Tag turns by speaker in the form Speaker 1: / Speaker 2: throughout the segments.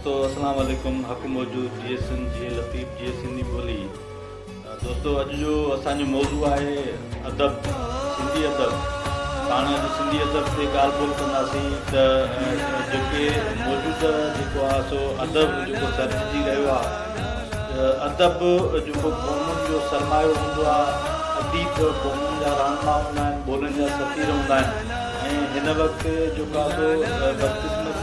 Speaker 1: دوستو اسلام عليڪم حق موجود جيئي سنڌ جيئي لطيف جيئي سنڌي ٻولي دوستو اڄ جو اسان جو موضوع آهي ادب سنڌي ادب پاڻ اڄ سنڌي ادب تي ڳالهه ٻولهه ڪنداسين ته جيڪي موجود جيڪو آهي سو ادب جيڪو سرجي رهيو آهي ادب جيڪو قومن جو سرمايو هوندو آهي اديب قومن جا رهنما هوندا آهن ٻولهن جا سفير هوندا آهن ۽ هن وقت جيڪو آهي سو بدقسمت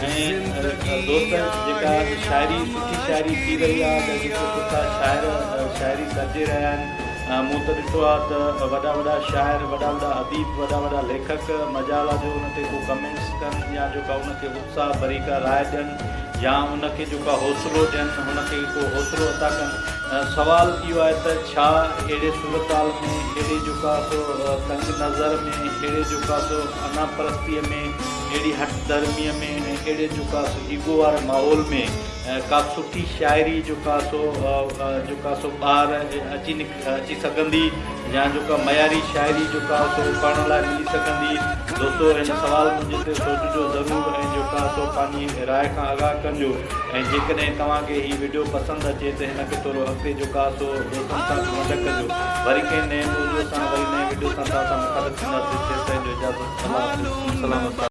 Speaker 1: ۽ دوستن جيڪا شاعري سٺي شاعري ٿي رهي آهي جا جيڪي سٺا شاعر شاعري سرجي رهيا آهن مون ته ڏٺو آهي ته وڏا وڏا شاعر وڏا وڏا اديب وڏا وڏا ليکڪ مجال آهي جو ان تي ڪو ڪمينٽس ڪن يا جو ڪا ان کي اتساهه ڀري ڪا راء ڏين يا ان کي جو ڪا حوصلو ڏين ان کي ڪو حوصلو عطا ڪن سوال اهو آهي ته ڇا اهڙي صورتحال ۾ اهڙي جو ڪا سو تنگ نظر ۾ اهڙي جو ڪا سو انا پرستيء ۾ اهڙي هٺ ڌرميء ۾ ۽ اهڙي جو ڪا سو ايگو واري ماحول ۾ ڪا سٺي شاعري جو ڪا سو جو ڪا سو ٻاهر اچي اچي سگهندي يا جو ڪا معياري شاعري جو ڪا سو پڙهڻ لاء ملي سگهندي؟ دوستو هن سوال منهنجي تي سوچجو ضرور ۽ جو ڪا سو پنهنجي راء کان آگاهه ڪنجو ۽ جيڪڏهن توهان کي هي وڊيو پسند اچي ته هن کي ٿورو اڳتي جو ڪا سو دوستن سان به ونڊ ڪجو وري ڪنهن نئين موضوع سان وري نئين وڊيو سان توهان سان مخالف ٿينداسين تيسين جو اجازت الله حافظ سلام السلام.